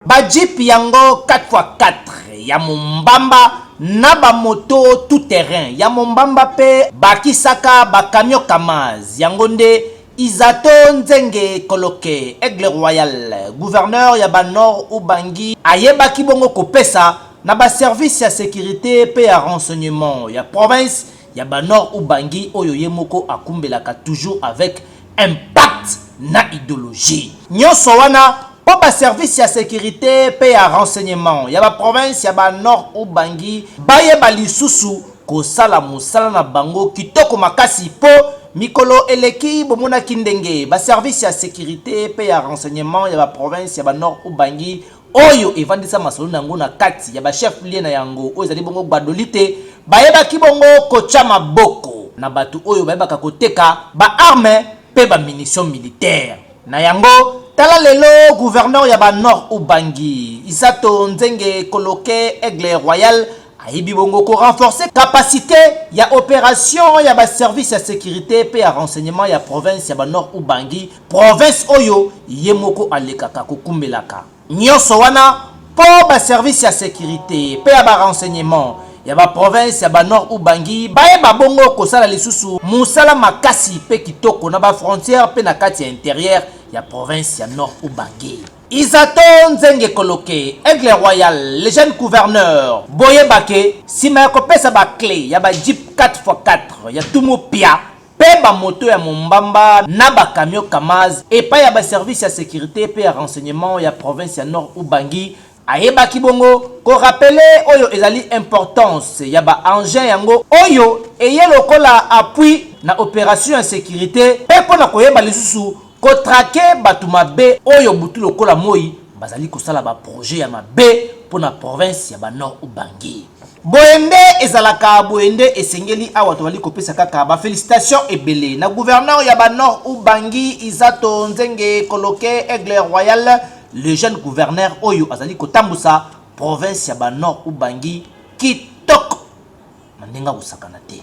Ba jeep yango 4x4 ya mombamba na ba moto tout terrain ya mombamba pe bakisaka ba camion kamaz yango nde Isato Nzenge Koloke, Aigle Royal, gouverneur ya ba Nord Ubangi ayebaki bongo kopesa na ba services ya securite pe ya renseignement ya province ya ba Nord Ubangi oyo ye moko akumbelaka toujours avec impact na ideologie nionso wana po ba service ya securite pe ya renseignement ya ba province ya ba Nord Ubangi bayeba lisusu kosala mosala na bango kitoko makasi po mikolo eleki bomonaki ndenge ba service ya securite pe ya renseignement ya ba province ya ba Nord Ubangi oyo evandisa masolo na yango na kati ya ba chef lieu na yango oyo ezali bongo Gbadolite, bayebaki bongo kotya maboko na bato oyo bayebaka koteka ba armes mpe ba munitions militaires. Na yango, tala lelo gouverneur ya ba Nord-Ubangi, Isato Nzenge Koloke Aigle Royal, ayebi bongo ko renforcer capacite ya operation ya ba services ya securite mpe ya renseignement ya province ya ba Nord-Ubangi, Province oyo ye moko alekaka kokumbelaka nionso wana mpo ba services ya securite mpe ya ba renseignements ya ba provinces ya ba Nord Ubangi bayeba bongo kosala lisusu mosala makasi mpe kitoko na ba frontières mpe na kati ya interieur ya province ya Nord Ubangi. Isato Nzenge Koloke, Aigle Royal, le jeune gouverneur, boyeba que sima ya kopesa ba cles ya ba jeeps 4x4 ya Tumu Pia mpe ba moto ya mombamba na ba camions Kamaz epai ya ba services ya securite mpe ya renseignements ya province ya Nord-Ubangi, ayebaki bongo ko rappeler oyo ezali importance ya ba engins yango oyo eye lokola appui na operation ya securite mpe mpo na koyeba lisusu ko traquer bato mabe oyo butu lokola moyi bazali kosala ba projets ya mabe mpo na province ya ba Nord-Ubangi. Boye nde ezalaka boye nde esengeli awa tobali kopesa kaka ba felicitation ebele na gouverneur ya ba nord ubangi izato nzenge koloke aigle royal le jeune gouverneur oyo azali kotambusa province ya ba nord ubangi kitoko na ndenge akosakana te